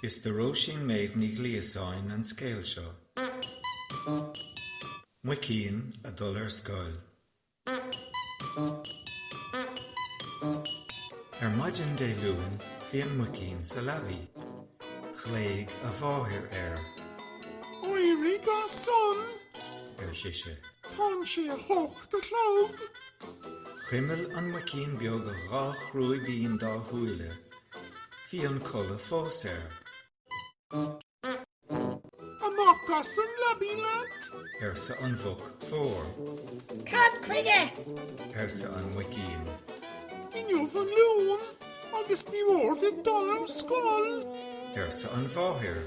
Is do Róisín Méabh Ní Ghliasáin an scéal seo. Muicín ag dul ar scoil. Ar maidin Dé Luain bhí an muicín sa leabaidh. Ghlaoidh a mháthair air. Éirigh as san! ar sise. Tánn sé a h-ocht a chlog. Chuimil an muicín beag a dhá chrúibín dá shúile. Bhí an codladh fós air. 'Amach as an leabaidh leat! arsa an mhuc mhór. 'Cad chuige? arsa an muicín. 'Inniu an Luan agus ní mór duit dul ar scoil! arsa an mháthair.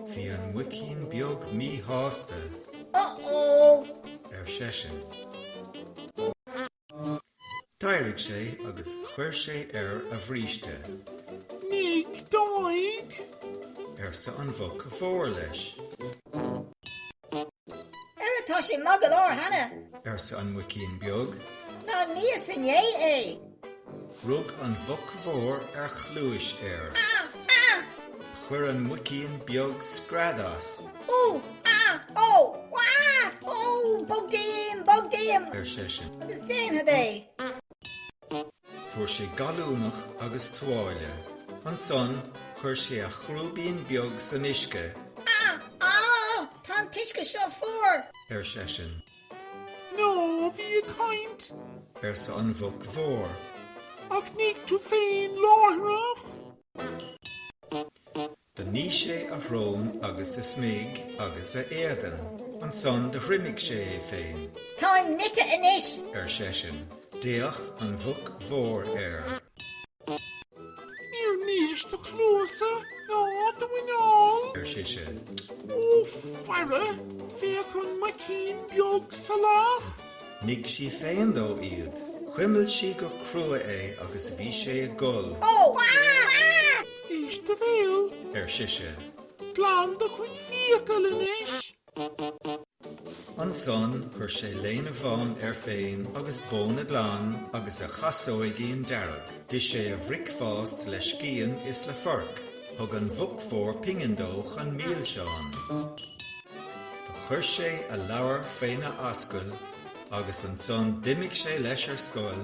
Bhí an muicín beag míshásta. Uh-oh! ar seisean. D'éirigh sé agus chuir sé air a bhríste. Nigh d'aghaidh! arsa an mhuc mhór leis. Ara tá sé maith go leor cheana? arsa an muicín beag. Nár níos inné é! Rug an mhuc mhór ar chluais air. Chuir an muicín beag scread as. Ú! Á! Ó! Á! Ó! Bog díom! Bog díom! ar seisean. Agus déanfad é! Fuair sé gallúnach agus tuáille. Ansan chuir sé a chrúibín beag san uisce. Á! Á! Tá an t-uisce seo fuar! ar seisean. Ná bí ag caint! arsa an Mhuc Mhór. Ach nigh tú féin láithreach! Do nigh sé a shrón agus a smig agus a éadan. Ansan do thriomaigh sé é féin. Táim nite anois! ar seisean. D'fhéach an Mhuc Mhór air. Níor níis do chluasa ná do mhuineál. ar sise. Ó faire, féach an muicín beag salach. Nigh sí féin dó iad. Chuimil sí go crua é agus bhí sé ag gol. Ó! Éist do bhéal. ar sise. Glan do chuid fiacail anois. Ansan chuir sé léine bhán air féin agus bóna glan agus a chasóigín dearg. D'ith sé a bhricfeást le scian is le forc. Thug an mhuc mhór pingin dó chun milseán. Do chuir sé a leabhar féna ascaill agus ansan d'imigh sé leis ar scoil,